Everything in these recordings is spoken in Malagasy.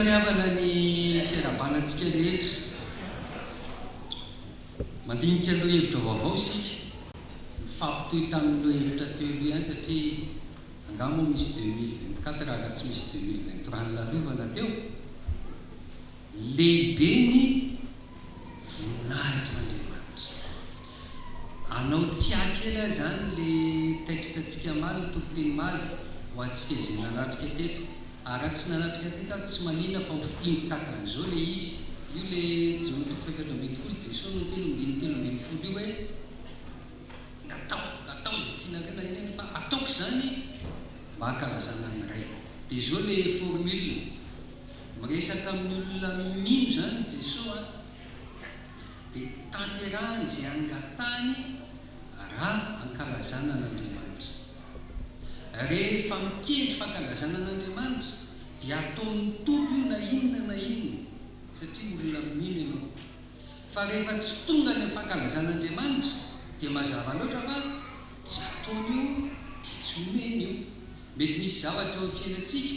Faniavana ny fiarahabanantsika rehetra. Mandinika lohahevitra vaovao isika, mifampitohy tamin'ny lohahevitra teo aloha ihany satria angaha moa misy deux mille vingt-quatre raha tsy misy deux mille vingt-trois nilalovana teo? Lehibe ny voninahitr'Andriamanitra. Anao tsy ahy kely aza any le texte tsika maly ny toriteny maly ho antsika izay nanatrika teto ary raha tsy nanatrika teto aho tsy manina fa ho fitiny takan'izao le izy io le jono toko fahefatra ambin'ny folo jeso no niteny ndininy telo ambin'ny folo io hoe ngatao ngatao izay tianareo na inona na inona fa ataoko izany mba hankalazana ny ray dia izao le formule miresaka amin'ny olona mino izany jeso a dia tanterahany izay angatahany raha ankalazana an'Andriamanitra. Rehefa mikendry fankalazana an'Andriamanitra dia ataon'ny Tompo io na inona na inona satria olona mino ianao. Fa rehefa tsy tonga any amin'ny fankalazana Andriamanitra dia mazava loatra fa tsy ataony io dia tsy omeny io. Mety misy zavatra eo amin'ny fiainantsika.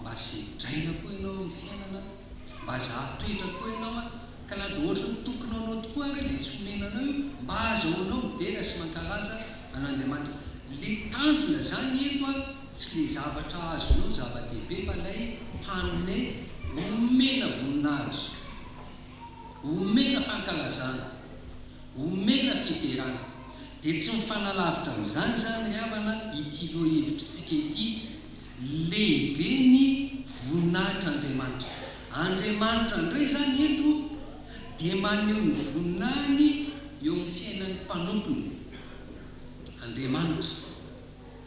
Mba sedraina koa ianao amin'ny fiainana an! Mba azaho toetra koa ianao an! Ka na dia hoatry ny tokony ho anao tokoa ary izay tsy omena anao io, mba azahoanao midera sy mankalaza an'Andriamanitra. Ilay tanjona izany eto an, tsy ilay zavatra azonao zava-dehibe fa ilay mpanome omena voninahitra, omena fankalazana, omena fiderana. Dia tsy mifanalavitra amin'izany izany ry havana ity lohahevitrintsika ity. Lehibe ny voninahitr'Andriamanitra. Andriamanitra indray izany eto dia maneho ny voninahiny eo amin'ny fiainan'ny mpanompony. Andriamanitra,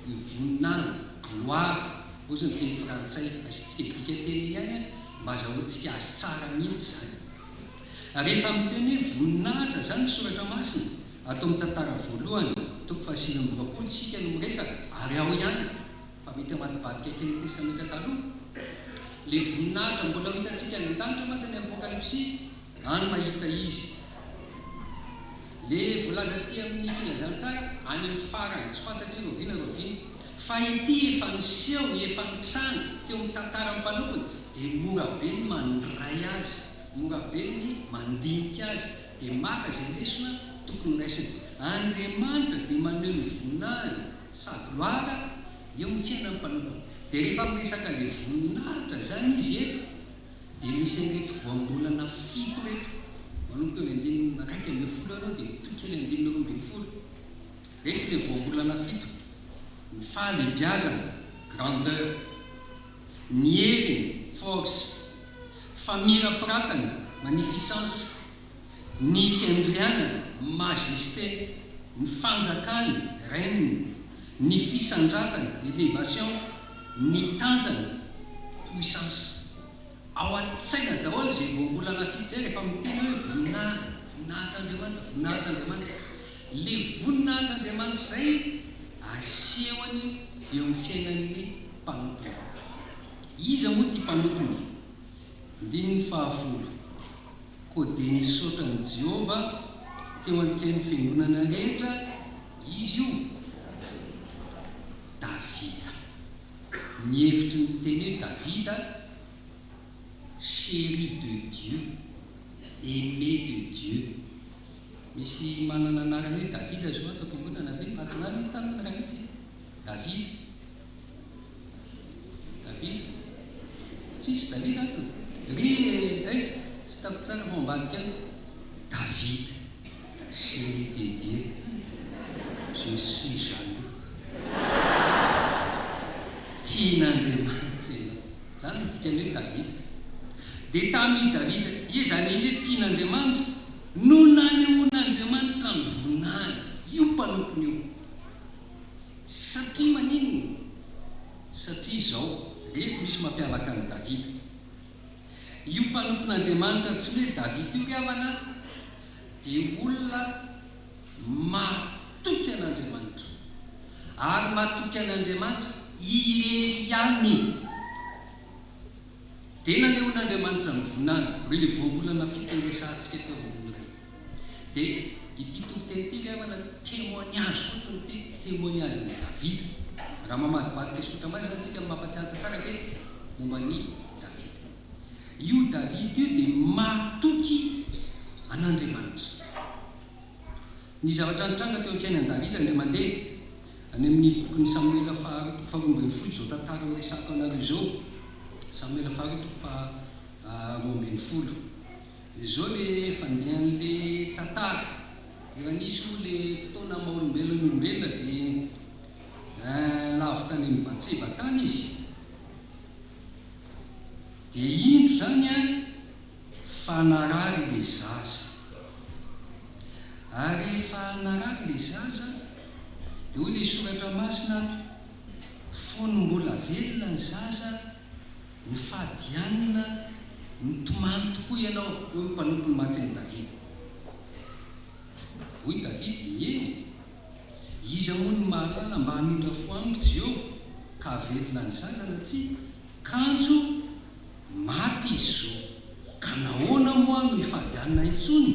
ny voninahiny, gloire, ohatry ny teny frantsay, asiantsika dika teny ihany mba azahoantsika azy tsara mihitsy izany. Rehefa miteny hoe voninahitra izany ny soratra masina, ato amin'ny tantara voalohany, toko fahasivy amby roapolo, isika no miresaka, ary ao ihany. fa mety hamadibadika kely ny Testamenta Taloha. Ilay voninahitra mbola ho hitantsika any an-danitra mantsy any amin'ny Apokalypsy, any mahita Izy. Ilay voalaza aty amin'ny Filazantsara, any amin'ny farany, tsy fantatri roviana roviana. Fa ity efa niseho, efa nitranga, teo amin'ny tantaran'ny mpanompony, dia mora be ny mandray azy, mora be ny mandinika azy, dia maka izay lesona tokony ho raisina. Andriamanitra dia maneho ny voninahiny Sady loaka eo ny fiainan'ny mpanao. Dia rehefa miresaka ilay voninahitra izany izy eto dia misy an'ireto voambolana fito ireto, manomboka eo amin'ny andininy iraika ambin'ny folo eo ianao dia mitohy kely andininy roa ambin'ny folo. Ireto ilay voambolana fito, ny fahalehibiazana, grandeur, ny heriny, force, famirapiratany, magnificence. Ny fiandrianany, majesté, ny fanjakany, règne, ny fisandratany, elevation, ny tanjany, puissance. Ao an-tsaina daholo izay voambolana fito izay rehefa miteny hoe voninahitra, voninahitr'Andriamanitra, voninahitr'Andriamanitra. Ilay voninahitr'Andriamanitra izay asehony eo amin'ny fiainan'ny mpanompony. Iza moa ity mpanompony? Andininy fahafolo. Koa dia nisaotra an'i Jehovah teo an-trehan'ny fiangonana rehetra izy io. Davida. Ny hevitry ny teny hoe Davida, chéri de Dieu, aimé de Dieu. Misy manana anarana hoe Davida zao ato am-piangonana ve? Mahatsiravina tamin'ny raizy Davida. Davida, Tsisy Davida ato? Ry e! Aiza? Tsy hitako tsara fa ao ambadika any. Davida, Chérie dédiée, je suis jaloux. Tian'Andriamanitra ianao. Izany no dikan'ny hoe Davida. Dia tamin'i Davida, ie, izany indrisy hoe tian'Andriamanitra, no nanehoan'Andriamanitra ny voninahiny io mpanompony io. Satria maninona? Satria izao, reko misy mampiavaka an'i Davida. Io mpanompon'Andriamanitra antsoina hoe Davida io ry havana a, dia olona mahatoky an'Andriamanitra, ary mahatoky an'Andriamanitra irery ihany. Dia nanehoan'Andriamanitra ny vonany, ireo ilay voambolana fito niresahantsika teo ambony ireo. Dia ity toriteny ity ilay anaovana témoignage fotsiny ity, témoignage an'i Davida. Raha mamadibadika sy ohatran'ny maizina izany isika no mampatsiahy tantaraka hoe momba an'i Davida. Io Davida io dia matoky an'Andriamanitra. Ny zavatra nitranga teo amin'ny fiainan'i Davida indray mandeha, any amin'ny bokin'i Samoela faharoa toko faharoa ambin'ny folo izao tantara horesahako anareo izao, Samoela faharoa toko faharoa ambin'ny folo. Izao le fandehan'le tantara, rehefa nisy moa le fotoana maha olombelona ny olombelona dia eh lavo tany amin'ny Batseba tany izy, dia indro izany an fa narary ilay zaza, ary rehefa narary ilay zaza dia hoy ilay soratra masina ato, fony mbola velona ny zaza Mifady ihany na mitomany tokoa ianao. Hoy ny mpanompony mantsy an'i Davida. Hoy Davida, Eny, iza moa no mahalala mba hamindra fo amiko Jehovah, ka havelona ny zanana tsy kanjo maty izy izao? Ka nahoana moa aho no hifadianina intsony?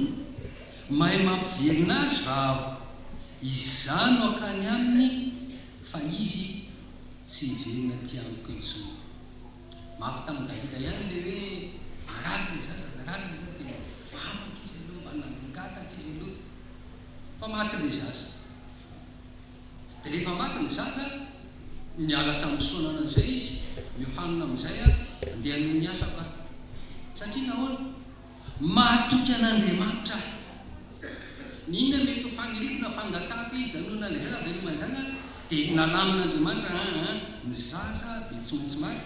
Mahay mampivelona azy va aho? Izaho no hankany aminy Fa izy tsy hivelona aty amiko intsony. Mafy tamin'i Davida ihany ilay hoe marary ilay zaza, narary ilay zaza, dia mba nivavaka izy aloha, mba nangataka izy aloha fa maty ilay zaza. Dia rehefa maty ny zaza, niala tamin'i Sona ananjay izy, miohanina amin'izay aho, andeha hanohy ny asako aho. Satria nahoana? Mahatoky an'Andriamanitra aho. Ny inona mety ho fagniriako na fangatahako hijanona any ivelany veloma izany aho dia nalamin'Andriamanitra an an ny zaza dia tsy maintsy maty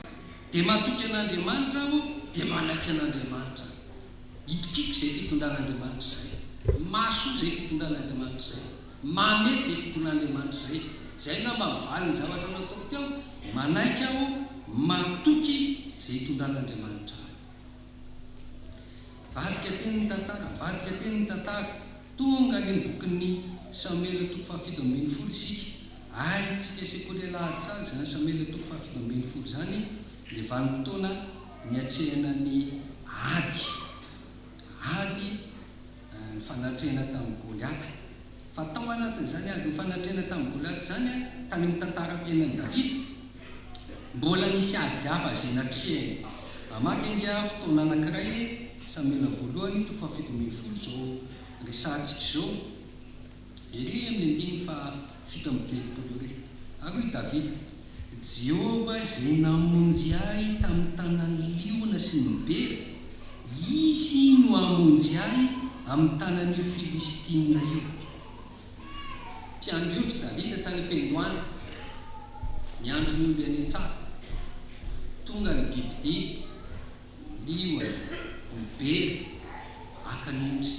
dia matoky an'Andriamanitra aho dia manaiky an'Andriamanitra aho. Itokiako izay fitondran'Andriamanitra izay. Mahasoa izay fitondran'Andriamanitra izay. Mahamety izay fitondran'Andriamanitra izay. Izay angamba ny valin'ny zavatra nataoko teo, manaiky aho, matoky izay itondran'Andriamanitra ahy. Varika teny ny tantara, varika teny ny tantara, tonga ary ny bokin'ny Samuel toko fahafito ambin'ny folo isika, hay tsika sekoly alahady tsara izany Samuel toko fahafito ambin'ny folo izany, ilay vanim-potoana niatrehana ny ady, ady ny fanatrehana tamin'i Goliata. Fa tao anatin'izany andro nifanatrehana tamin'i Goliata izany, tany amin'ny tantaram-piainan'i Davida, mbola nisy ady hafa izay natrehiny. Hamaky ange aho fotoana anankiray, Samoela Voalohany, toko fahafito ambin'ny folo, izao resahantsika izao. Ery amin'ny andininy fahafito amby telopolo ery, ary hoy Davida, Jehovah izay namonjy ahy tamin'ny tanan'ny liona sy ny bera, izy no hamonjy ahy amin'ny tanan'io Filistinina io. Mpiandriotry Davida tany am-piandohana, miandry ny omby any an-tsaha. Tonga ny bibidia, ny liona, ny bera, haka ny ondry.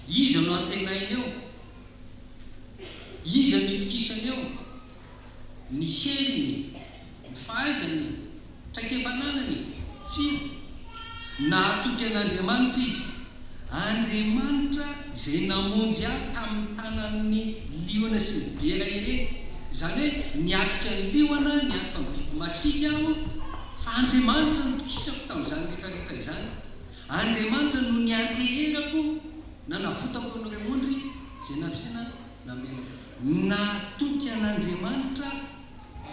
Iza no antenainy eo? Iza no itokisany eo? Ny heriny? Ny fahaizany? Traikefa ananany? Tsia. Nahatoky an'Andriamanitra izy. Andriamanitra izay namonjy ahy tamin'ny tanan'ny liona sy ny bera ireny. Izany hoe niatrika ny liona, niatrika ny biby masiaka aho, fa Andriamanitra no nitokisako tamin'izany rehetrarehetra izany. Andriamanitra no nianteherako, nanavotako an'ireo ondry izay nampiasaina namela ahy. Natoky an'Andriamanitra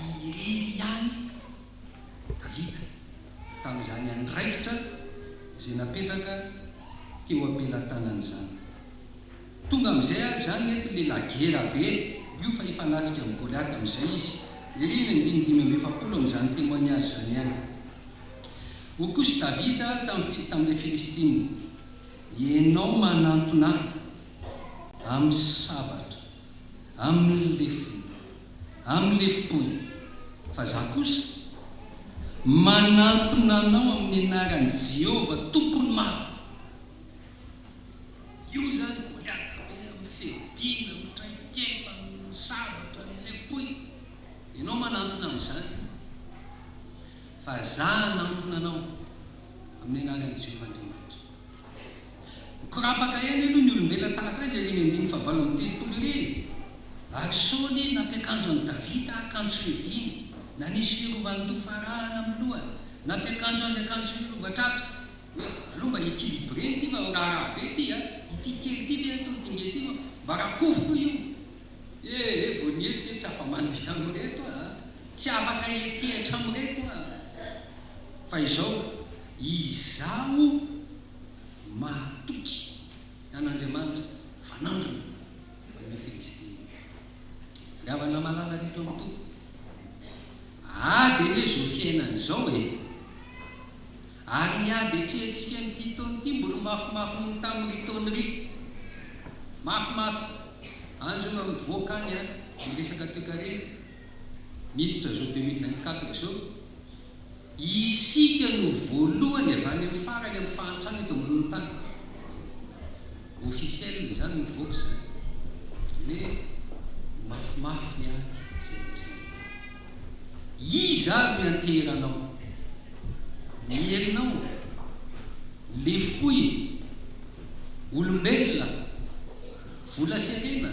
irery ihany Davida tamin'izany andraikitra izay napetraka teo am-pelatanany izany. Tonga amizay ary zany nety le lagera be io fa hifanatrika am goliata amizay izy ery ny andininy dimy amby efapolo amizany temoignage zany ihany ho kosy davida tam fi tam le filistina ianao manantona am sabatra am le fo am le foy fa za kosa manantona anao am ny anaran jehovah tompony maro Io izany Goliata be amin'ny fiadiana amin'ny traikefa, amin'ny sabatra, ny lefom-poy. Ianao manantona amin'izany fa Izaho hanantona anao amin'ny anaran'i Jehovah Andriamanitra. Mikorapaka ihany aloha ny olombelona tahaka azy ery eny andininy fahavalo amby telopolo ery e! Ary Saoly nampiakanjo an'i Davida akanjo fiadiana, nanisy fiarovan-doha farahana amin'ny lohany, nampiakanjo azy akanjo fiarovan-tratra. Hoe aleo mba equilibré ity fa miraharaha be ity a! Ity kely ity ve atao ity ngeza ity moa mba rakofy koa io! Ee vao nihetsika hoe tsy afa-mandeha amin'ireto aho a! Tsy afaka hietihatra amin'ireto aho a! Fa izao, izaho mahatoky an'Andriamanitra fanandrina amin'io Filistina io. Ry havana malala rehetra ao amin'ny Tompo, ady anie izao fiainana izao e! Ary ny ady atrehantsika amin'ity taona ity mbola mafimafy noho ny tamin'irỳ taona irỳ. Mafimafy. Any izao raha mivoaka any ny resaka toekarena, miditra izao deux mille vingt quatre izao, isika no voalohany avy any amin'ny farany amin'ny fahantrana eto ambonin'ny tany. Officiel izany mivoaka izany. Hoe mafimafy ny ady izay atrehan'ny. Iza ary ny anteheranao? Ny herinao ô! Lefoko e! Olombelona, vola sy harena,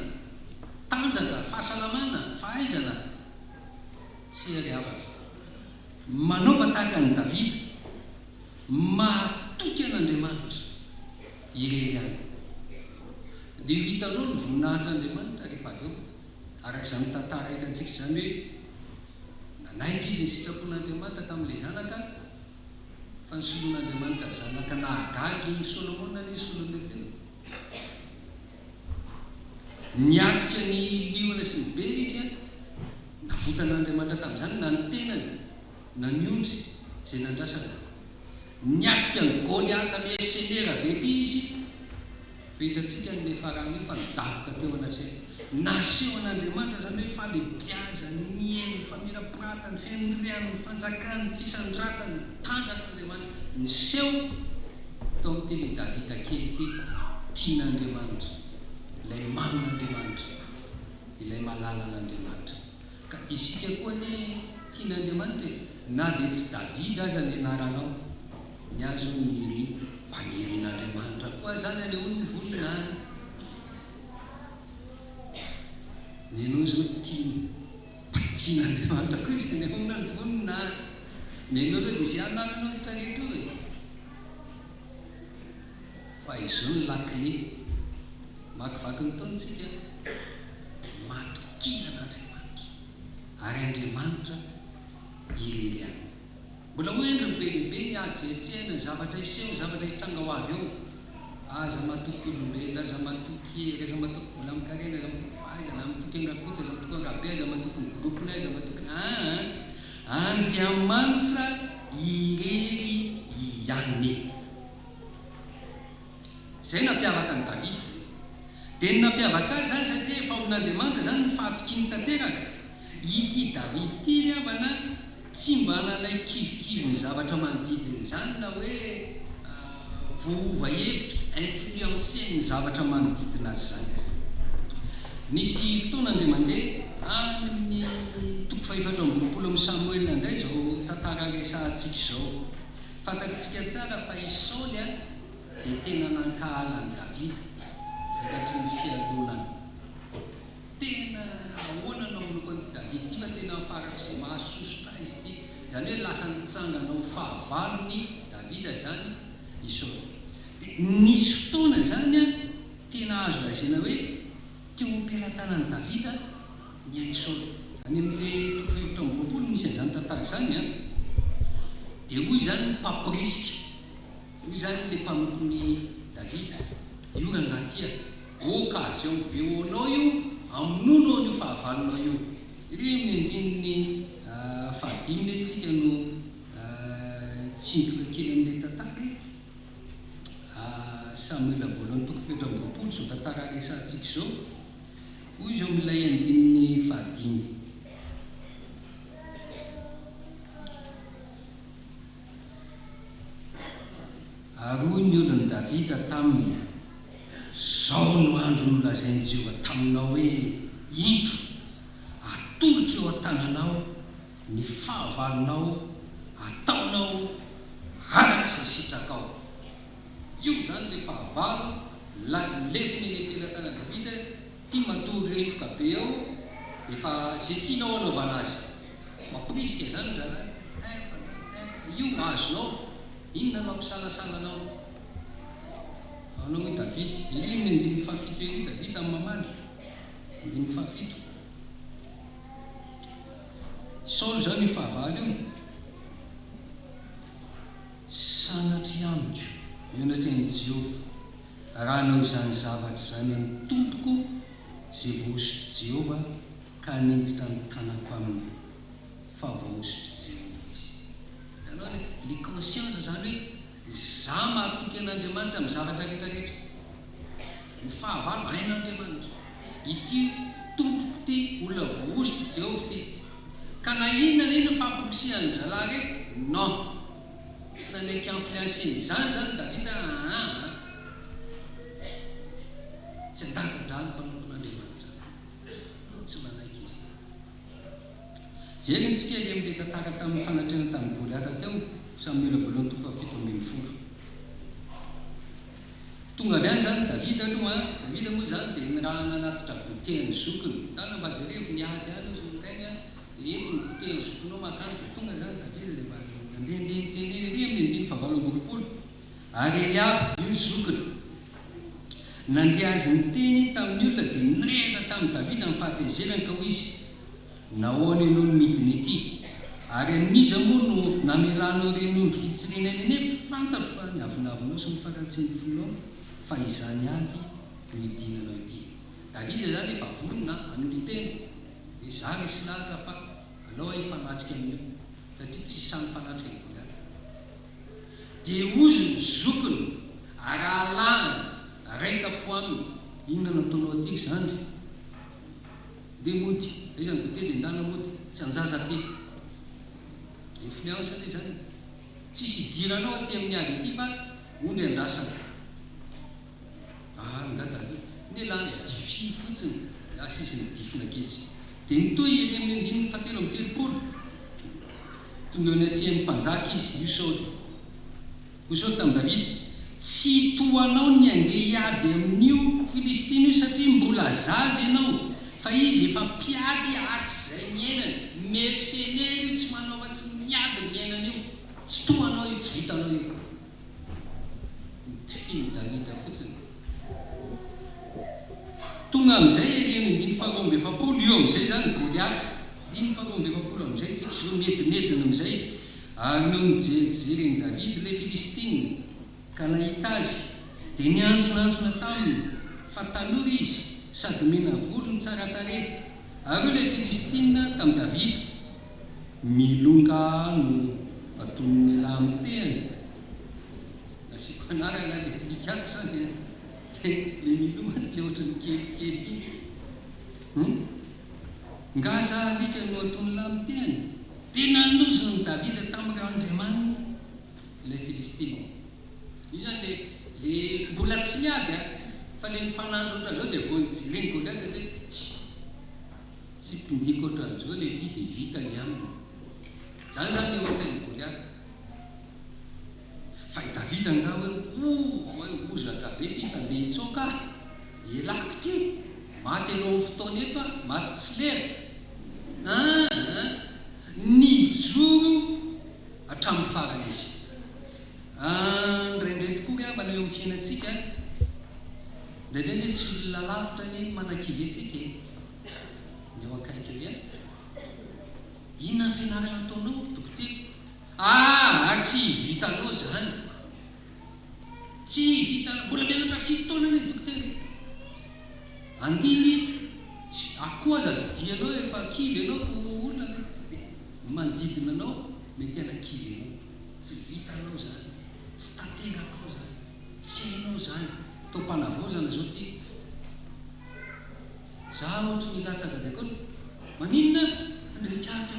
tanjaka, fahasalamana, fahaizana, tsy hery havana. Manaova tahaka an'i Davida, mahatoky an'Andriamanitra irery ihany. Dia ho hitanao ny voninahitr'Andriamanitra rehefa avy eo. Araka izany tantara hitantsika izany hoe nanaiky izy ny sitrapon'Andriamanitra tamin'ilay zanaka fa nisoloan'Andriamanitra zanaka nahagaga iny Solomona anie Solomeo tena niatrika ny liona sy ny bera izy an! navotan'Andriamanitra tamin'izany na ny tenany na ny ondry izay nandrasana niatrika an'i Goliata miha senera be ity izy Fa hitantsika ny me faran'io fa nidaboka teo anatrehany. Nasehon'Andriamanitra izany hoe falebiazany, ny hery, ny famirapiratany, ny fiandriany, ny fanjakany, ny fisandratany, ny tanjan'Andriamanitra. Niseho tao amin'ityle Davida kely ity tian'Andriamanitra, ilay mamin'Andriamanitra, ilay malala an'Andriamanitra. Ka isika koa anie tian'Andriamanitra e! Na dia tsy Davida aza ny anaranao. Ny ahy zao ny Nili mpanirin'Andriamanitra koa zany aleo ny voninahiny ny anao zao tiany mpanirin'Andriamanitra koa izy aleo na ny voninahiny ny anao zao de ze anananao rehetra rehetra eo e fa izao ny lakile makivaky ny taona tsika matokia an'Andriamanitra ary Andriamanitra irery ihany. Mbola moa endry ny be dia be ny ady izay atrehina, ny zavatra hiseho, ny zavatra hitranga ho avy eo. Aza matoky olombelona, aza matoky hery, aza matoky vola aman-karena, aza matoky fahaizana, aza matoky an'i Rakoto, aza matoky an'i Rabe, aza matoky ny groupe-nay, aza matoky aah! Andriamanitra irery ihany. Izay nampiavaka an'i Davida izay. Dia ny nampiavaka azy izany satria efa olon'Andriamanitra izany no fahatokiany tanteraka. Ity Davida ity ry havana tsy mba nanaiky kivikivy ny zavatra manodidina izany na hoe voaova hevitra, influencer, ny zavatra manodidina azy izany. Nisy fotoana indray mandeha, any amin'ny toko fahefatra amby roapolo amin'ny Samoela indray izao tantara resahantsika izao. Fantatsika tsara fa i Saoly dia tena nankahala an'i Davida vokatry ny fialonany. Tena ahoana no manompo an'ity Davida ity fa tena farak'izay mahasosotra azy ity. Izany hoe lasa nitsangana ho fahavalon'i Davida izany i Saoly. Dia nisy fotoana izany tena azo lazaina hoe teo am-pelatanan'i Davida. ny Aisôna. Any amin' ny toko fahefatra amby roapolo no misy an' izany tantara izany an! Dia hoy izany ny Pape Prisca, hoy izany ilay mpanompon' i Davida, Io rangahy ity an! Ô Kazeo be ô anao io, amonono ô an' io fahavalonao io! Iry amin' ny andininy fahadimy anie tsika no hitsindroka kely amin' ilay tantara e! Samoela voalohany toko fahefatra amby roapolo izao tantara resahantsika izao. Hoy izao milay andininy fahadimy. Ary hoy ny olon'i Davida taminy, Izao no andro nolazain'i Jehovah taminao hoe, Indro, atolotro eo an-tananao ny fahavalonao, ataonao araka izay sitrakao. Io izany ilay fahavalo lanin'ny lefona eny am-pelatanan'i Davida e! Ity matory remoka be ao dia efa izay tianao anaovana azy. Mampirisika izany ny rahalahy tsy maintsy eh, mpandeha eh, fa io azonao, inona no hampisalasala anao? Fahavalona hoy Davida. Ery amin'ny andininy fahafito ery Davida no mamaly, andininy fahafito. I Saoly izany io fahavalo io. Sanatria amiko, hoy ny renin'i Jehovah, raha hanao izany zavatra izany ny tompoko, izay voahosotr'i Jehovah, ka haninjitra ny tanako aminy, fa voahosotr'i Jehovah izy. Hitanao ilay le conscience izany hoe, izaho mahatoky an'Andriamanitra amin'ny zavatra rehetrarehetra. Ny fahavalo, hain'Andriamanitra. ity tompoko ity olona vohozotry Jehovah ity. Ka na inona na inona fampirisihan-drahalahy re, non. Tsy nanaiky influencer-ny izany izany i Davida aa. Tsy an-danja-draha ny mpanompon'Andriamanitra. Non, tsy nanaiky izy. Herentsika ery amin'ilay tantara tamin'ny fanatrehana tamin'i Goliata teo, Samoela voalohany toko fahafito ambin'ny folo. Tonga avy any izany Davida aloha, Davida moa izany dia nirahana anaty trabotea ny zokiny, tana mba jerevo ny ady any hoy Zorokainy a, dia ento ny botea ny zokinao mankany, dia tonga izany Davida dia mba nandeha ndeha niteny eny ery amin'ny andininy fahavalo amby roapolo, ary Eliaba, ny zokiny, nandre azy niteny tamin'ny olona dia nirehitra tamin'i Davida amin'ny fahatezerany ka hoy izy, Nahoana ianao no midina ety? Ary amin'iza moa no namelanao ireny ondry fitsirena eny an'efitra? Fantatro fa ny avonavonao sy ny faratsian'ny fonao fa izany ihany no idinanao ety. David, izay izany efa vonona hanolo-tena, hoe, Izaho re silahatra fa alao aho hifanatrika amin'io, satria tsy sahy mifanatrika i Goliata. Dia hozy ny zokiny, arahalahiny, Raika-po aminy. Inona no ataonao ety ry zandry? Ndeha mody, aiza ny goûter dia ndana mody, tsy an-jaza aty. Influence ve izany? Tsisy idiranao aty amin'ny ady aty fa ondry andrasana. Ahh ngah Dada n'ialahy a! Dify fotsiny ny asa izy nidifina kitsy. Dia nitohy ery amin'ny andininy fahatelo amby telopolo. Tonga eo anatrehan'ny mpanjaka izy, io Saoly. Hoy Saoly tamin'i Davida, Tsy tohanao ny handeha hiady amin'io Filistina io, satria mbola zaza ianao, fa izy efa mpiady hatrizay niainany. Mersenera io, tsy manao afa-tsy ny miady ny iainany io. Tsy tohanao io, tsy vitanao io. Notifin'i Davida fotsiny. Tonga amin'izay ery amin'ny andininy faharoa amby efapolo, io amin'izay izany Goliata. Andininy faharoa amby efapolo amin'izay, tsy kizo, nedinedina amin'izay. Ary nony nijerijeren'i Davida ilay Filistina ka nahita azy, dia nianjonanjona taminy fa tanora izy sady mena volo no tsara tarehy. Ary hoy ilay Filistina tamin'i Davida, Milonga aho no badonin'ny elah amin'ny tehany. Asiako anarana ilay alika ato izany an, dia ilay miloha azy ilay ohatran'ny kelikely iny. Nga za alika no ataon'lah am teny? Dia nanozon'i Davida tampoka Andriamaniny ilay Filistina. Io izany le le mbola tsy niady a! Fa le mifanandro otra zao dia vao nijeren'i Goliata dia tsy tsy tombiako otran'izao le ty dia vita ny aminy. Zany zany le ohatsain'i Goliata. Fa i Davida angaha hoe, Oh, oh e, hozatra be ty, fa ndeha hitsoaka aho. Elako ty, maty alohan'ny fotoana eto aho, maty tsy lera. Aa, nijoro hatramin'ny farany izy. Aa, indraindray tokoa ry havana eo amin'ny fiainantsika, indraindray anie tsy olona lavitra anie no manakivy antsika e, ny eo akaiky eo ihany. Inona ny fianarana ataonao ry dokotera? Aa tsy vitanao zany tsy vitanao mbola mianatra fito taona anie dokotera e andiny tsy akoho aza didianao efa kivy ianao ko olona ve de ny manodidina anao mety ana kivy anao tsy vitanao zany tsy tanterakao zany tsy hainao zany to mpanavaozana zao ty za ohatry ny latsaka de ko maninona handrehitraritra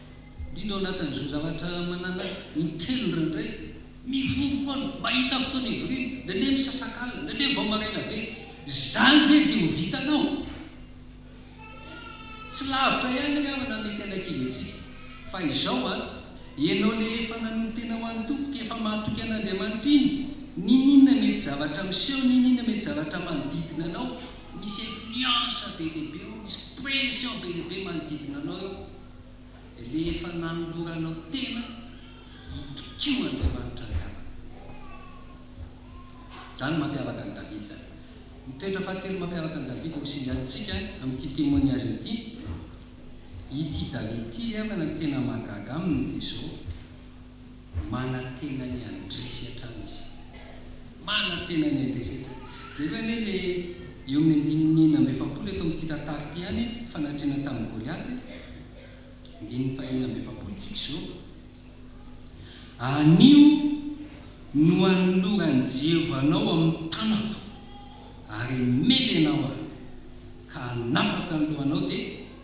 Indrindra ao anatin'izao zavatra manana in-telo indraindray, mivory foana, mahita fotoana hivoriana, indraindray misasakalina, indraindray vao maraina be. Izany ve dia ho vitanao? Tsy lavitra ihany ry havana mety hanakivy antsika. Fa izao an, ianao ilay efa nanolo-tena ho an'ny Tompo, ka efa mahatoky an'Andriamanitra iny, n'inon'inona mety zavatra miseho, n'inon'inona mety zavatra manodidina anao, misy influence be dia be ao, misy pression be dia be manodidina anao eo. rehefa nanoloranao tena hitokio Andriamanitra Andrianako. Izany no mampiavaka an'i David izany. Ny toetra fahatelo mampiavaka an'i David no singantsika amin'ity témoignage ity. Ity David ity angamba no tena mahagaga aminy dia izao. Manantena ny handresy hatrany izy. Manantena ny handresy hatrany. Jereo anie le eo amin'ny andininy enina amby efapolo eto amin'ity tantara ity ihany e, fanatrehana tamin'i Goliata e. Andininy fahenina amby efapolo tsika izao. Anio no hanoloran'i Jehovah anao amin'ny tanako ary hamely anao aho, ka hanapaka ny lohanao dia.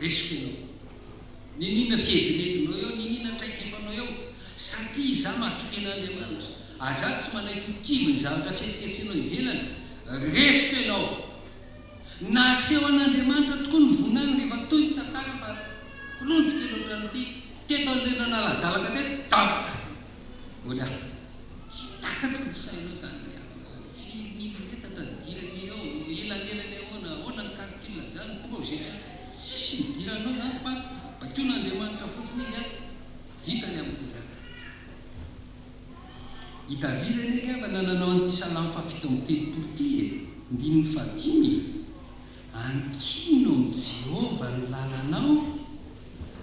Resiko eo. Niniana fihedinedinao eo, niniana traikefanao eo, sa tia izaho matoky an'Andriamanitra? Aza tsy manaiky ho kivy ny zavatra fihetsiketsehanao ivelany. Resiko ianao. Nahaseho an'Andriamanitra tokoa ny voninahiny rehefa toy ny tantara fa, kilonjy kely ohatran'ity, teto an'ireny nanala-dalaka teto, daboka! Goliata. Tsy takatro ny sainao izany ry havana ô! Firy milimetatra ny diran'io eo? Elanelany ahoana? Ahoana ny calcul amin'izany? Tonga ao Zetra. Tsisy ny diranao izany fa baikoin'Andriamanitra fotsiny izy ary vita ny amin'i Goliata. I Davida anie ry havana nanao an'ity salamo fahafito amby telopolo ity e, ndininy fahadimy e! Ankino amin'i Jehovah ny lalanao,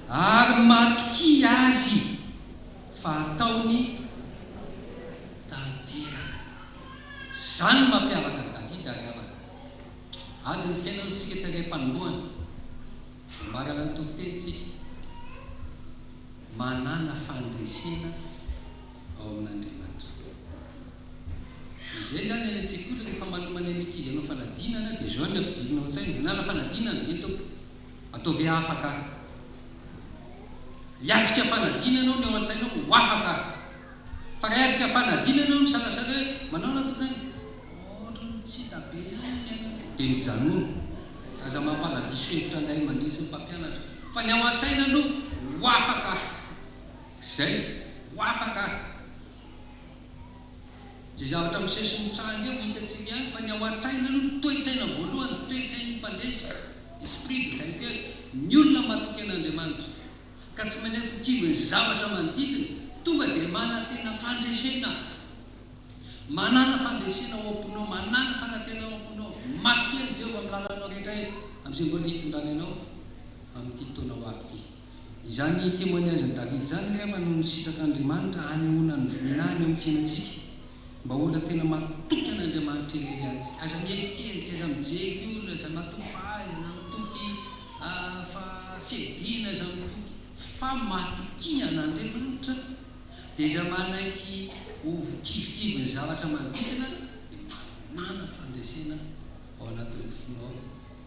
ary matokia azy fa hataony tanteraka. Izany no mampiavaka an'i Davida ry havana. Ady ny fiainana isika eto aingam-panombohana. Mahalala ny toriteny isika. Manàna fandresena. ao amin'Andriamatoa. Izay izany any an-tsekoly rehefa manomanay ny ankizy hanao fanadinana dia izao ny ampidirina ao an-tsaina, hanala fanadinana ve ny tompoko? Ataovy hoe afaka aho. Hiatrika fanadinana aho ny ao an-tsainao ho afaka aho. Fa raha hiatrika fanadinana aho misalasala hoe manao na tompoko any? Ohatran'ny tsy hita be ihany ny anako. Dia mijanona. Aza mampanadiso hevitra ny ray aman-dreny sy ny mpampianatra. Fa ny ao an-tsaina aloha ho afaka aho. Izay ho afa angaha? Izay zavatra misesy mitranga eo hitantsika ihany fa ny ao an-tsaina aloha ny toe-tsaina voalohany, toe-tsain'ny mpandresy, esprit de vainqueur, ny olona matoky an'Andriamanitra ka tsy manaiky ho kivin'ny zavatra manodidina tonga dia manantena fandresena, manana fandresena ao am-ponao, manana fanantenana ao am-ponao, matokia an'i Jehovah amin'ny lalanao rehetra eto amin'izay mbola hitondrany anao amin'ity taona ho avy ity. Izany témoignage-n'i David izany angamba no nisitratr'Andriamanitra hanehoana ny voina any amin'ny fiainantsika mba ho olona tena matoky an'Andriamanitra irery antsika. Aza mierikerika, aza mijery olona, aza matoky fahaizana, mitoky fa fiadiana, aza mitoky fa matokia an'Andriamanitra dia izay manaiky ho kivikivy ny zavatra manodidina dia manana fandresena ao anatin'ny fonao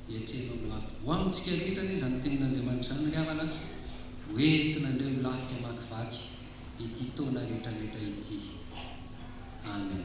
dia tsenaho ny lafika. Ho amintsika rehetra anie izany tenin'Andriamanitra izany ry havana a! Ho entina indray ho lafika hamakivaky ity taona rehetrarehetra ity. Amen.